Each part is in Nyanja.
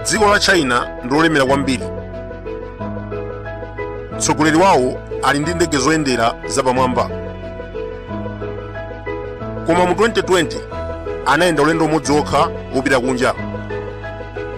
dziko la china ndi lolemera kwambiri mtsogoleri wawo ali ndi ndege zoyendera zapamwamba koma mu 2020 anayenda ulendo umodzi wokha wopita kunja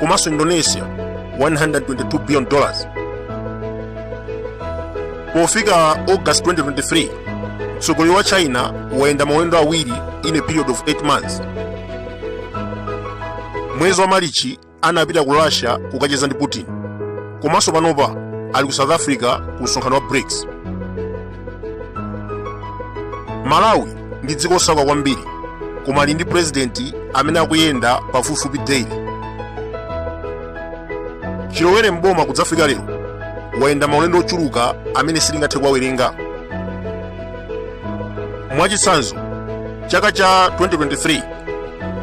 komanso indonesia 122 billion dollars pofika august 2023 mtsogoleri wa china wayenda maulendo awiri in a period of 8 months mwezi wa malichi anapita ku russia kukacheza ndi putin komanso panopa ali ku south africa ku msonkhano wa brics malawi ndi dziko osauka kwambiri koma ali ndi purezidenti amene akuyenda pafupifupi daily chilowere mboma kudzafika lero wayenda maulendo ochuluka amene sitingathe kuwawerenga mwachitsanzo chaka cha 2023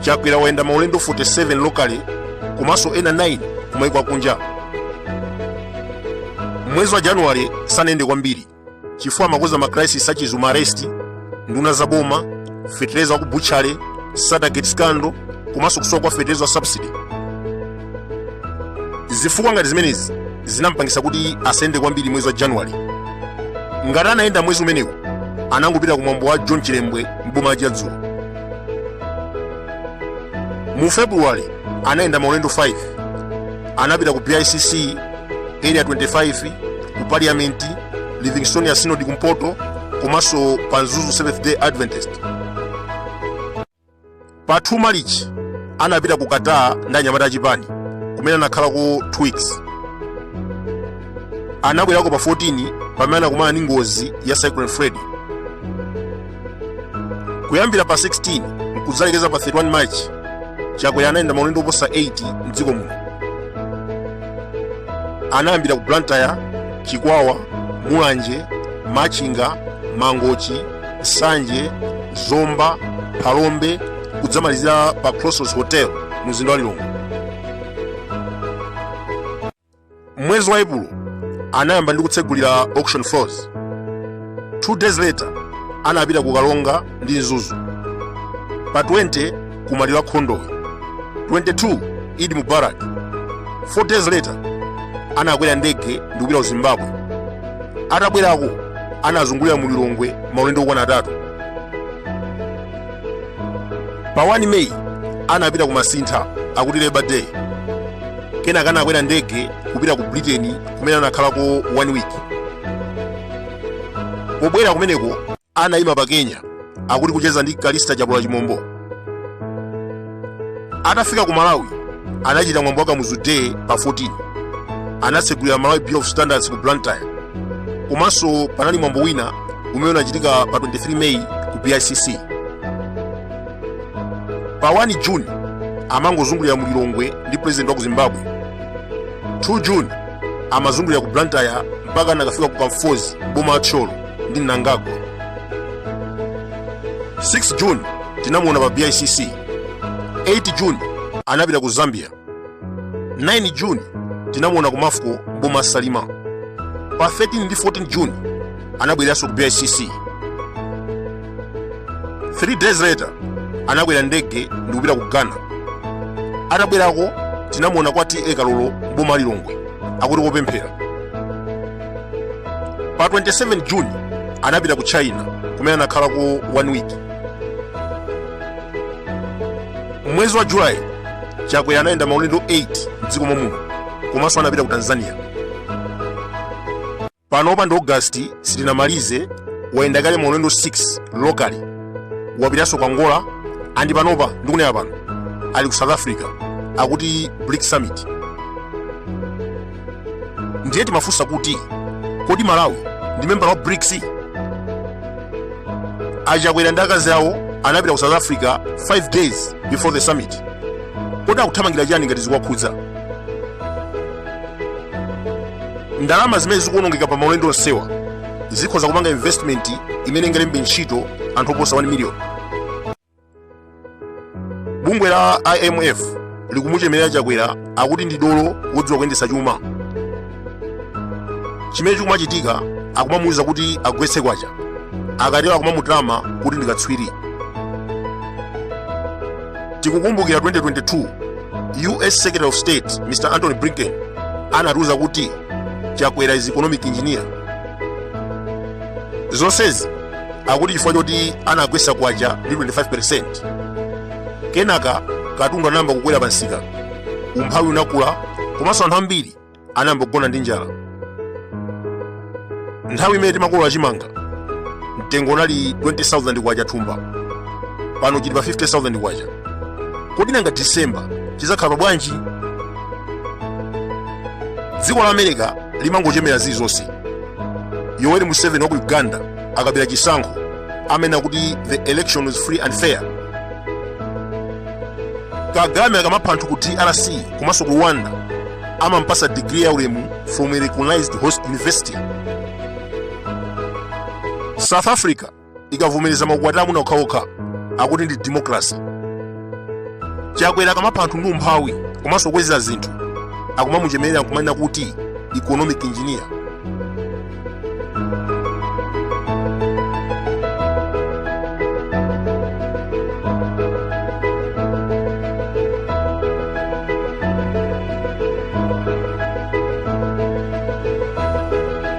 chakwera wayenda maulendo 47 locally komanso ena 9 kumaiko akunja mwezi wa januwale sanayende kwambiri chifukwa amakonza ma crisis a chizuma arrest nduna za boma fetereza wa ku butchale sattargate scandal komanso kusowa kwa fetereza wa subsidy zifukwa ngati zimenezi zinampangisa kuti asayende kwambiri mwezi wa januwale ngati anayenda mwezi umenewu anangopita ku mwambo wa john chilembwe mboma la chiradzulu mu februwale anayenda maulendo 5 anapita ku bicc area 25 ku parliament livingstonia synod kumpoto komanso pa mzuzu seventh day adventist pa 2 malichi anapita ku qatar ndi anyamata achipani kumene anakhalako 2 weeks anabwerako pa 14 pamene anakumana ndi ngozi ya cyclone freddy kuyambira pa 16 nkudzalekeza pa 31 march chakwera anayenda maulendo oposa 8 mdziko muno anayambira ku blantyre chikwawa mulanje machinga mangochi nsanje zomba phalombe kudzamalizira pa crossroads hotel mu mzinda wa lilongwe mwezi wa epulo anayamba ndi kutsegulira auction floors two days later anapita ku karonga ndi mzuzu pa 20 ku maliro a khondowe 22 eid mubarak 4 days later anakwera ndege ndi kupita ku zimbabwe atabwerako anazungulira mu lilongwe maulendo okwana atatu pa 1 meyi anapita ku Masintha akuti Labour Day kenaka anakwera ndege kupita ku Britain kumene anakhalako 1 week pobwera kumeneko anayima pa Kenya akuti kucheza ndi Callista Chapola Chimombo atafika ku Malawi anachita mwambo wa Kamuzu Day pa 14 anatsegulira Malawi Bureau of Standards ku Blantyre komanso panali mwambo wina umene unachitika pa 23 May ku BICC pa 1 June amangozungulira mu Lilongwe ndi president wa ku Zimbabwe 2 June amazungulira ku Blantyre mpaka anakafika ku Kamfozi m'boma la Thyolo ndi Mnangagwa 6 June tinamuona pa BICC 8 June anapita ku Zambia 9 June tinamuona ku MAFCO m'boma la Salima pa 13 ndi 14 June anabwereranso ku BICC 3 days later anakwera ndege ndi kupita ku Ghana atabwerako tinamuona kwa TA Kalolo m'boma la Lilongwe akuti kopemphera pa 27 juni anapita ku China kumene anakhalako one week mwezi wa Julayi Chakwera anayenda maulendo 8 mdziko mommuno komanso anapita ku Tanzania panopa ndi Ogasiti sitinamalize wayenda kale maulendo 6 locally wapitanso ku Angola and panopa ndikunena pano ali ku South Africa akuti BRICS summit ndiye timafunsa kuti kodi Malawi ndi membala wa BRICS a Chakwera ndi akazi awo anapita ku South Africa 5 days before the summit kodi akuthamangira chani ngati zikuwakhudza ndalama zimene zikuonongeka pa maulendo onsewa zikhoza kupanga investment imene ingalembe ntchito anthu oposa 1 million bungwe la IMF likumuchemerera Chakwera akuti ndi dolo wodziwa kuyendetsa chuma chimene chikumachitika akumamuwuza kuti agwetse kwacha akatero akumamutama kuti ndi katswiri tikukumbukira 2022 US Secretary of State Mr Antony Blinken anatiwuza kuti Chakwera is economic engineer zonsezi akuti chifukwa choti anagwetsa kwacha ndi 25% kenaka katundu anayamba kukwera pa msika umphawi unakula komanso anthu ambiri anayamba kugona ndi njala nthawi imene timakolola chimanga mtengo unali 20000 kwacha thumba pano chili pa 50000 kwacha kodi nanga disemba chizakhala pa bwanji dziko la America limangochemera zilizonse yoweri museveni wa ku uganda akabera chisankho amanena kuti the election is free and fair kagame akamapha anthu ku drc komanso ku rwanda amampasa digiri ya ulemu from a recognized host university south africa ikavomereza maukwati amuna okhaokha akuti ndi democracy chakwera akamapha anthu ndi umphawi komanso kukweza zinthu akumamuchemerera nkumanena kuti economic engineer